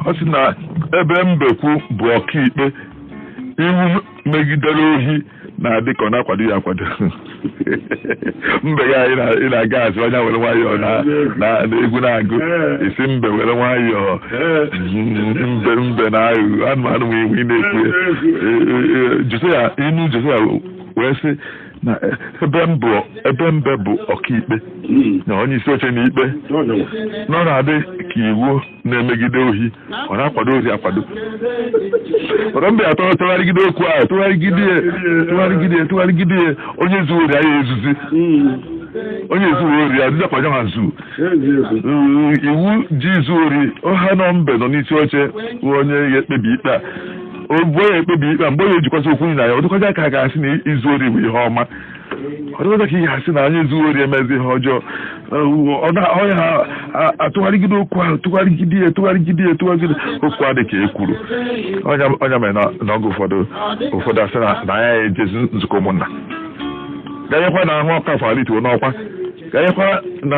ọ sị na ebe mbekwu bụ ọkaikpe iwu megidere ohi na-adị ka ọ na-akwado ya akwado mbe ga anyị na- ị na-aga azụ onye were nwayọọ na na- na egwu na-agụ sị mbe were nwayọọ mbe mbe na aghụghọ anụmanụ nwe iwu ị na-ekwu ya Josiya inu Josiya wee sị na ebe m bụ ebe mbe bụ ọkaikpe na onye isi oche na ikpe na ọ na-adị ka iwu na-emegide ohi ọ na-akwado ohi akwado ọrọ mbe atụgharịgide okwu ahụ tụgharịgide ya tụgharịgide ya tụgharịgide ya onye zuo ori anyị ezuzi onye zuo ori ya dịzakwa ya ma zu Mm, iwu ji izu ori ọha nọ mbe nọ n'isi oche bụ onye ga-ekpebi ikpe a o bụ onye ekpebi ikpe a mgbe onye ejikwasị okwu na ya ọ dịkwazi ka a ga-asị na izu ori bụ ihe ọma ọ dịzi ka ihe asị na onye zuo ori emezi ihe ọjọọ onye ha atụgharịgide okwu ahụ tụgharịgide ya tụgharịgide ya tụgharịgide okwu adị ka e kwuru ọ nya mere na oge ụfọdụ ụfọdụ asị na nya ejezi nzukọ ụmụnna ganyekwa na ahụ Ọkafọ alituo n'ọkwa ganyekwa na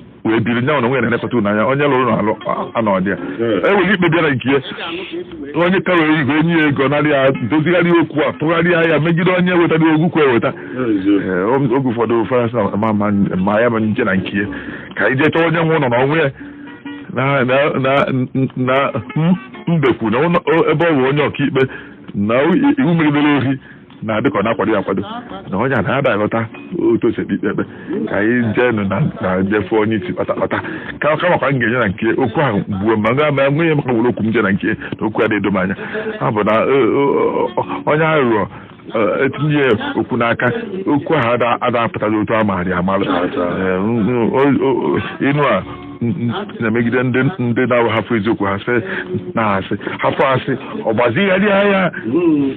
wee biri nya onwe ya na-elekọta ụlọ anya onye lụrụ n'alụ anọdị ya enweghị ikpe bịara nke ya onye ka were igwe enye ya ego narị ya dozigharị okwu a tụgharịa ya megide onye wetara okwu kwa eweta Ee, o- oge ụfọdụ ụfọdụ sị na ma- ma- ma ya ma nje na nke ya ka anyị jee chọọ onye nwe ụlọ na onwe ya na na na na m- mbekwu na ụlọ- ebe ọ bụ onye ọkaikpe na iwu megidere ohi na-adị ka ọ na-akwado ya akwado na onye a na-ada aghọta otu o si ekpe ikpe ka anyị jeenụ na na jefe onye isi kpata kpata ka kamakwa m ga-enye na nke okwu ahụ gbuo ma ga ma nwe ihe maka were okwu m je na nke na okwu ya na-edo m anya ọ bụ na eh, o- o- onye aghụghọ eh, etinye ya okwu n'aka okwu ahụ ada- ada apụtaghị otu a maara ya amalụ Eh, m- m- o- o- o- inu a n- n- na-emegide ndị ndị na-ahapụ eziokwu ha sị na asị hapụ asị ọ gbazigharịa ya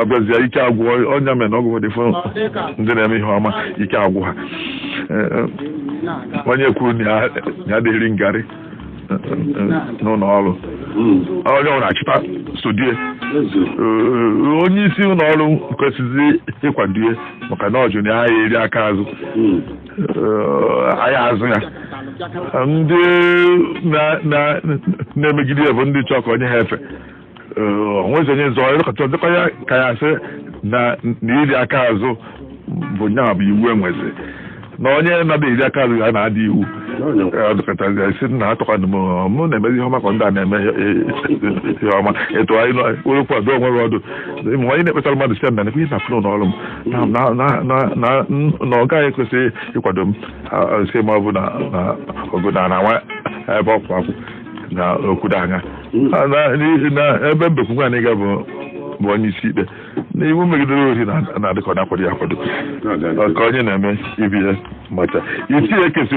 abịazia ike agwụ ọ nya mere na oge ụfọdụ ndị na-eme ihe ọma ike agwụ ha onye kwuru na ya ada eri ngarị n'ụlọ ọrụ onye ọbụna achịta sodie onye isi ụlọ ọrụ kwesịzi ịkwadie maka na ọ jụ na ya eri aka azụ anyị azụ ya ndị na-emegide ya bụ ndị chọọ ka o nye ha efe o nwezi onye zọọ elekọta ọ dịkwa ya ka ya sị na na iri aka azụ bụ nya bụ iwu e nwezi na onye na-ada eri aka azụ ya na-ada iwu ọdụkọtazi ya si na atụkwanụ m mụ na-emezi ihe ọma ka ndị a na-eme ihe- ihe ọma etu anyị nọ were kwado onwe gị ọdụ ma onye na-ekpetara mmadụ si na nekwe ihe na-afụ n'ụlọ ọrụ m na- na- na- na- na- na ọ gaghị ekwesị ịkwado m ah, ah, si ma ọ bụ na na- ọ bụ na na nwa ebe ọkwụ akwụ na okwudo anya A na- n'ihi na ebe mbekwu nwaanyị ga-abụ bụ onye isi ikpe na iwu megidere ori na- na-adị ka ọ na-akwado ya akwado ka onye na-eme ibi ya macha isi ya ekesi